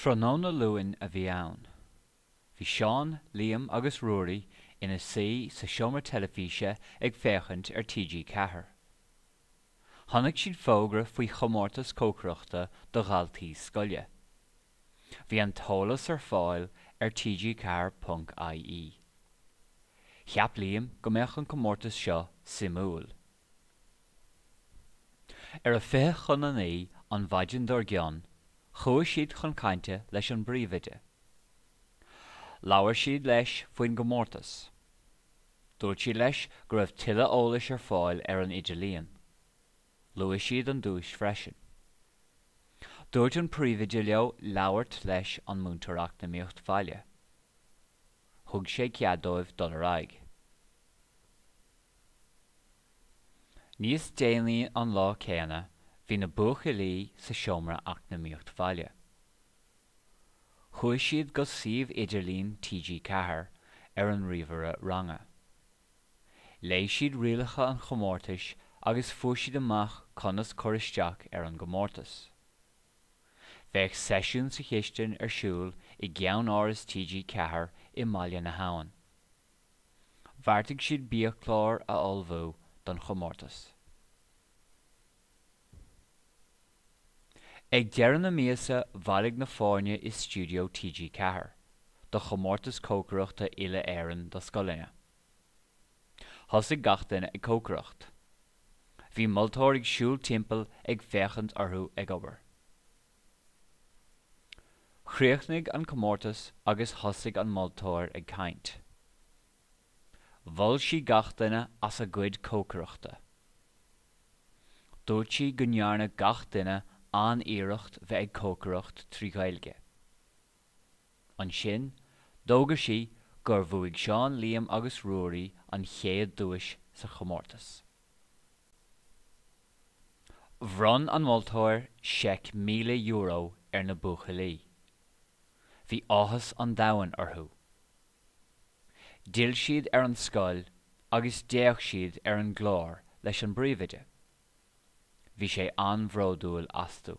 Tráthnóna Luain a bhí ann. Bhí Seán, Liam agus Ruairí ina suí sa seomra teilifíse ag féachaint ar TG Ceathair. Chonaic siad fógra faoi chomórtas cócaireachta do dhaltaí scoile. Bhí an t-eolas ar fáil ar TG4 ponc IE. Cheap Liam go mbeadh an comórtas seo suimiúil. Ar a fiche chun a naoi an mhaidin dár gcionn chuaigh siad chun cainte leis an bpríomhoide. Labhair siad leis faoin gcomórtas. Dúirt siad leis go raibh tuilleadh eolais ar fáil ar an idirlíon. Luaigh siad an duais freisin. Dúirt an príomhoide leo labhairt leis an Múinteoir Eacnamaíocht Bhaile. Thug sé cead dóibh dul ar aghaidh. Níos déanaí an lá céanna bhí na buachaillí sa seomra eacnamaíocht bhaile. Chuaigh siad go suíomh idirlín TG Ceathair ar an ríomhaire ranga. Léigh siad rialacha an chomórtais agus fuair siad amach conas cur isteach ar an gcomórtas. Bheadh seisiún sa chistin ar siúl i gceannáras TG Ceathair i mBaile na hAbhann. Bheartaigh siad biachlár a ullmhú don chomórtas. Ag deireadh na míosa bhailigh na foirne i stiúideo TG Ceathair do chomórtas cócaireachta Uile-Éireann do scoileanna. Thosaigh gach duine ag cócaireacht. Bhí moltóir ag siúl timpeall ag féachaint orthu ag obair. Chríochnaigh an comórtas agus thosaigh an moltóir ag caint. Mhol sí gach duine as a gcuid cócaireachta. Dúirt sí go ndearna gach duine an-iarracht bheith ag cócaireacht trí Ghaeilge. Ansin, d'fhógair sí gur bhuaigh Seán, Liam agus Ruairí an chéad duais sa chomórtas. Bhronn an moltóir seic €1,000 ar na buachaillí. Bhí áthas an domhain orthu. D'fhill siad ar an scoil agus d'fhéach siad ar an gclár leis an bpríomhoide. Bhí sé an-bhródúil astu.